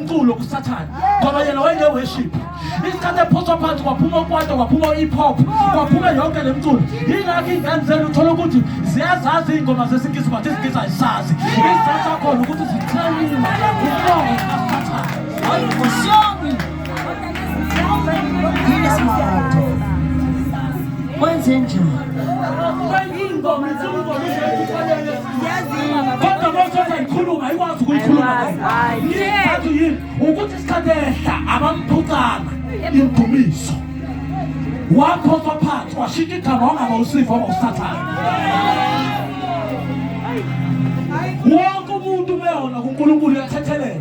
umculo kusathane ngoba yena wayeneworship isikhathi ephoswa phansi kwaphuma ukwata kwaphuma u-hip hop kwaphuma yonke le mculo yingakho iy'ngane zenu uthola ukuthi ziyazazi iy'ngoma zesingisi but isingisi ayisazi isizathu sakhona ukuthi zithenile umongo kasathane ukuthi isikhathi ehla abamphucanga indumiso waphoswa phansi washintsha igama wangaba usifa waba usathane wonke umuntu umeyona kunkulunkulu uyathethelela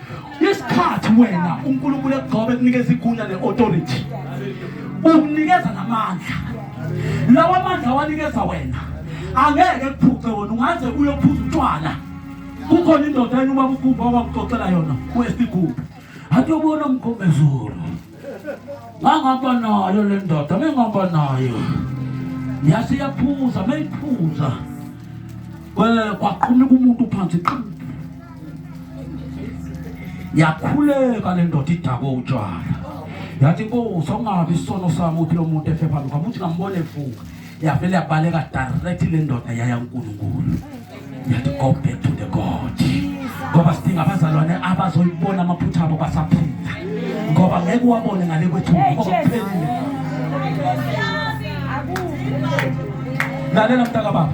isikhathi wena uNkulunkulu ekugcobe kunikeza igunya ne-authority ukunikeza namandla lawa mandla awanikeza wena angeke kuphuce wona ungaze uyophuza utshwala kukhona indoda yenu ubaba ukhumba owakuxoxela yona kwesigubu atiyobona mgombezulu ngangihamba nayo le ndoda bengihamba nayo yase yaphuza meyiphuza kwaqhumika umuntu phansi qhu yakhuleka le ndoda idakwe utshwala yathi nkosi okungabi isono sami ukuthi lo muntu efe phambi kwami uthi ngambone efuka yavele yabaleka direct le ndoda yaya uNkulunkulu yathi go back to the God ngoba sidinga abazalwane abazoyibona amaphutha abo basaphila ngoba ngeke uwabone ngale kwethu lalela mntaka baba